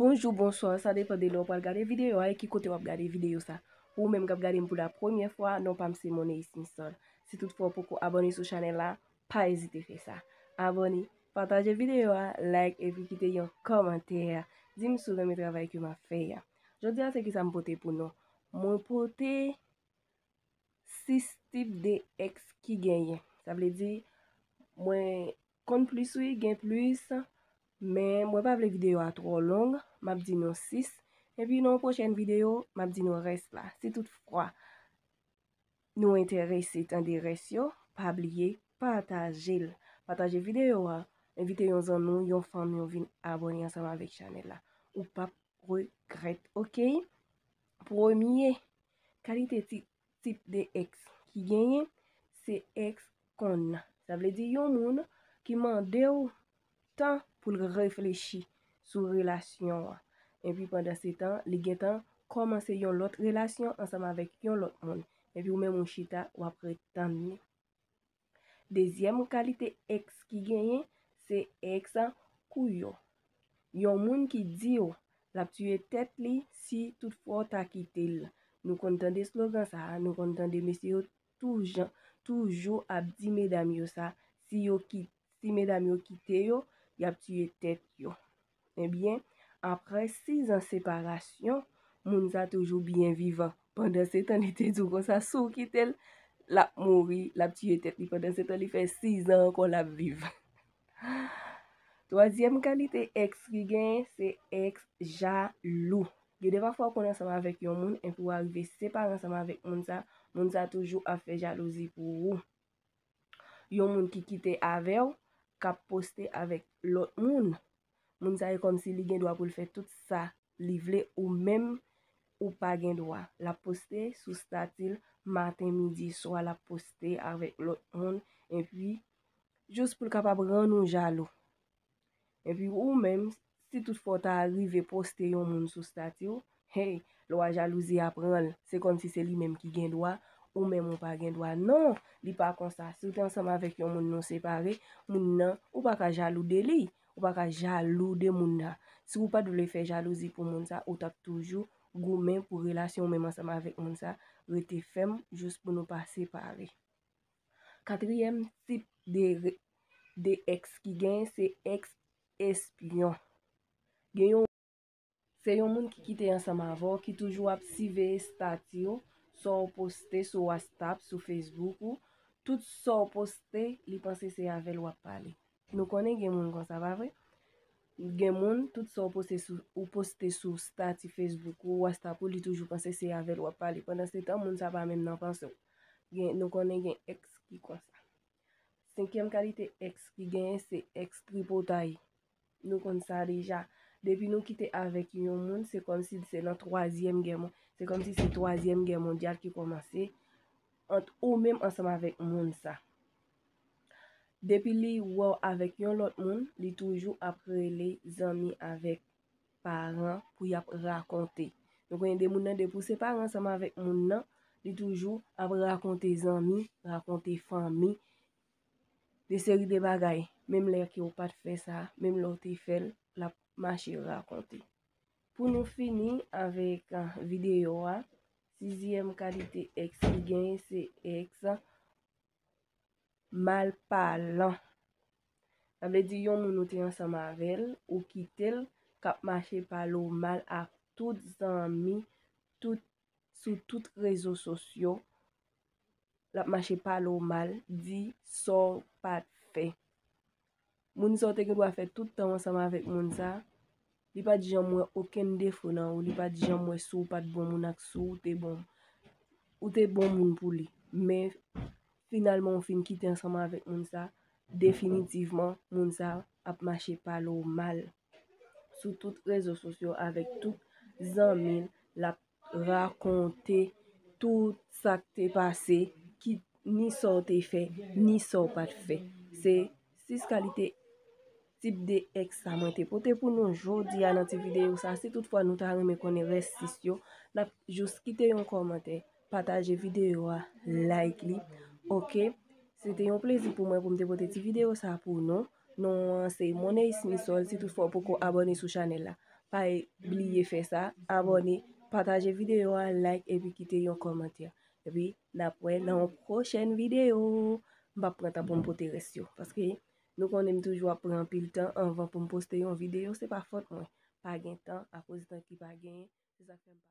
Bonjou, bonswa, sa depan de lè ou pral gade videyo a e ki kote wap gade videyo sa. Pou ou menm kap gade m pou la premye fwa, non pa m se Moneis Misol. Si tout fwa ou poko abone sou chanel la, pa ezite fè sa. Abone, pataje videyo a, like epi kite yon komantè. Di m si w renmen travay ke map fè a. Jodi a se ki sa m pote pou nou. Mwen pote 6 tip de ex ki genyen. Sa vle di mwen konn plis wi gen plis. Men mwen pa vle videyo a tro long. M ap di nou 6. Epi nan yon pwochen videyo m ap di nou res la. Si tout fwa. Nou enterese tande rès yo pa bliye patajel pataje video a envite yon zanmi w yon fanmi w vin abone ansanm avèk chanèl la ou pap regrèt ok premye kalite ti tip de ex ki genyen se ex konn sa vle di yon moun ki mandew tan pou l reflechi sou relasyon an. Epi pandan se tan, li gen tan kòmanse yon lòt relasyon ansanm avèk yon lòt moun. Epi ou menm ou chita, w ap ret tann li. Dezyèm kalite èks ki genyen, se èks kouyo. Yon moun ki di w l ap tiye tèt li si tout fwa w ta kite l. Nou konn tande slogan sa a, nou konn tande mesye yo toujou ap di medam yo sa, si yo kite. Si medam yo kite yo, y ap tiye tèt yo. Ebyen, aprè sizan separasyon, moun sa toujou byen vivan. Pandansetan li te di w konsa, si w kite l, l ap mouri, l ap tiye tèt li. Pandansetan li fè sizan ankò l ap viv. Twazyèm kalite èks ki genyen, se èks jalou. Gen de pafwa ou konn ansanm avèk yon moun, enpi w arive separe ansanm avèk moun sa, moun sa toujou ap fè jalouzi pou ou. yon moun ki kite avèw kap poste avèk lòt moun moun sa e kòmsi li gen dwa poul fè tout sa li vle ou menm ou pa gen dwa lap poste sou statil maten midi swa lap poste avèk lòt moun epi jous poul kapab rann ou jalou. Epi ou menm, si tout fwa w ta rive poste yon moun sou stati w, hey, lwa jalouzi a pran l, se kòmsi se li menm ki gen dwa, ou menm ou pa gen dwa. Non, li pa konsa. Si w te ansanm avèk yon moun nou separe, moun nan, ou pa ka jalou de li, ou pa ka jalou de moun nan. Si w pa t vle fè jalouzi pou moun sa, ou t ap toujou goumen pou relasyon ou menm ansanm avèk moun sa rete fèm jous pou nou pa separe. Katriyèm tip de èks ki genyen se èks espyon. Gen yon. Se yon moun ki kite ansanm avè w ki toujou ap siveye stati w, sa w poste sou wastap, sou fesbouk ou. Tout sa w poste, li panse se avè l w ap pale. Nou konnen gen moun konsa pa vre? Gen moun tout sa ou poste sou stati Facebook ou, WhatsApp ou li toujou panse se avèl wap pale pandan se tan moun sa pa menm nan panse w. Nou konnen gen ex ki konsa. Senkyèm kalite ex ki genyen se ex tripotay. Nou konn sa deja. Depi nou kite avèk yon moun se kòmsi se nan twazyèm gè mondyal. Se kòmsi se twazyèm gè mondyal ki kòmanse ant ou menm ansanm avèk moun sa. Depi li wèw avèk yon lòt moun li toujou ap rele zanmi avèk paran pou yap rakonte nou konnen de moun nan depi ou separe ansanm avèk moun nan li toujou ap rakonte zanmi rakonte fanmi de seri de bagay menm lè ki ou pat fè sa menm lè ou te fèl lap mache rakonte pou nou fini avèk videyo a sizyèm kalite èks ki genyen se èks Mal palan. Sa vle di yon moun ou te ansanm avè l, ou kite l, k ap mache pale w mal ak tout zanmi, tout, sou tout rezo sosyo, l ap mache pale w mal, di sa w pa t fè. Moun sa w te gen dwa fè tout tan w ansanm avèk moun sa, li pa t janm wè okenn defo nan ou, li pa t janm wè si w pa t bon moun ak si w te bon. Ou te bon moun pou li, men finalman ou fin kite ansanm avèk moun sa, definitivman moun sa ap mache pale w mal sou tout rezo sosyo avèk tout zanmi l, l ap rakonte tout sa k te pase, ni sa w te fè, ni sa w pa t fè. Se 6 kalite tip de èks sa mwen te pote pou nou jodi a nan ti videyo sa. Si tout fwa nou ta renmen konnen rès 6 yo, n ap jous kite yon kòmantè, pataje videyo a, like li. Ok, se te yon plezi pou mwen pou m te pote ti videyo sa pou nou. Non an se Moneys Misol si tout fwa ou poko abone sou chanel la pa bliye fè sa abone pataje video a like epi kite yon komantè epi nap wè nan yon prochèn video m pap pran tan pou m pote rès yo paske nou konnen m toujou ap pran anpil tan anvan pou m poste yon video se pa fòt mwen pa gen tan akoz tan ki pa gen se sa fè m pa